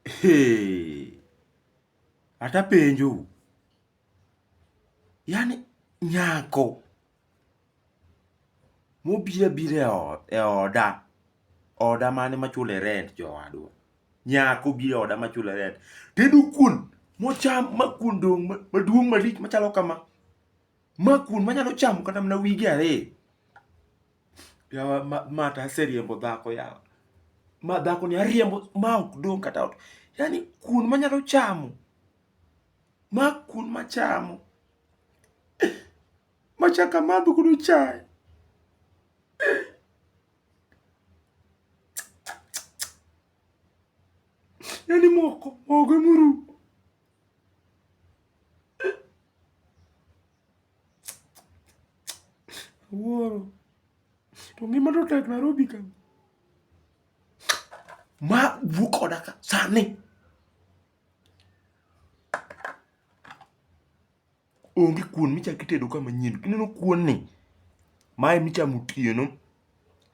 Hey. Ata penjo. Yani nyako mobira bira e oda oda mane machule rent jowadwa nyako bira oda machule rent tedu kun mocham makun dong maduong malich machalo kama makun manyalo chamo kata mana wige ariyo Yawa ma, ma to aseriembo dhako yawa. Ma dhako ni ariembo ma ok dong' kata ot. Yaani kuon manyalo chamo. Ma kuon machamo. Machak amadho godo chae. Yaani moko, mogo emuru. Awuoro. To ngima to tek Nairobi ka. Ma wuo koda ka sani. Onge kuon michak itedo ka manyien. Ineno kuon ni? Mae michamo otieno.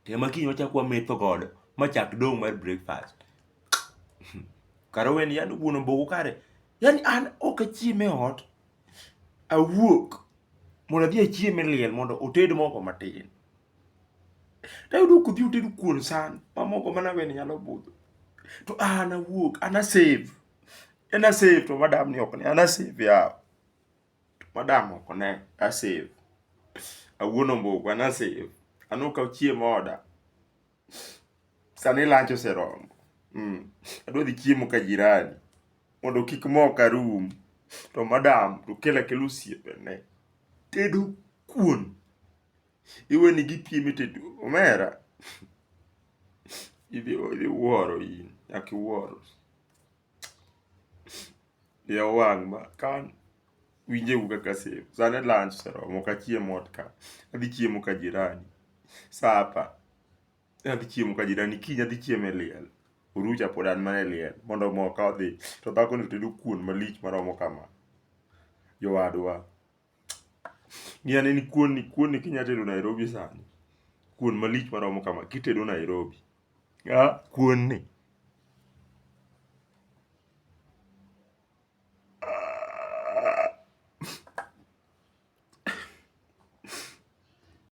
Te ma kiny wachak wametho godo ma chak dong' mar breakfast. Kara owe ni yande wuon omboko kare. Yani an ok achiem e ot. awuok mondo adhi achiem e liel mondo oted mogo matin. Tayudo kodhi oted kuon san ma mogo mana weni nyalo budho. To an awuok, an a save. En a save to madam ni ok ne, an a save yawa. To madam ok ne, a save. Awuon ombogo, an a save. An okaw chiemo oda. Sani lunch oseromo. Mm. Adwa dhi chiemo ka jirani mondo kik mok arum. To madam to kela kelo osiepene. Tedo kuon. Iwe ni gipieme tedo. Omera. Idhi idhi wuoro in. Nyaka iwuoro. Yaw wang' ma kan, winje u kaka asem. Sani lunch oseromo ok achiem ot ka, adhi chiemo ka jirani. Sapa, adhi chiemo ka jirani, kiny adhi chiemo e liel. Orucha pod an mana e liel, mondo omoka odhi. To dhakoni otedo kuon malich maromo kama. Jowadwa. Ng'i ane ni kuon ni, kuon ni kinya tedo Nairobi sani. Kuon malich maromo kama kitedo Nairobi. Ah, kuon ni.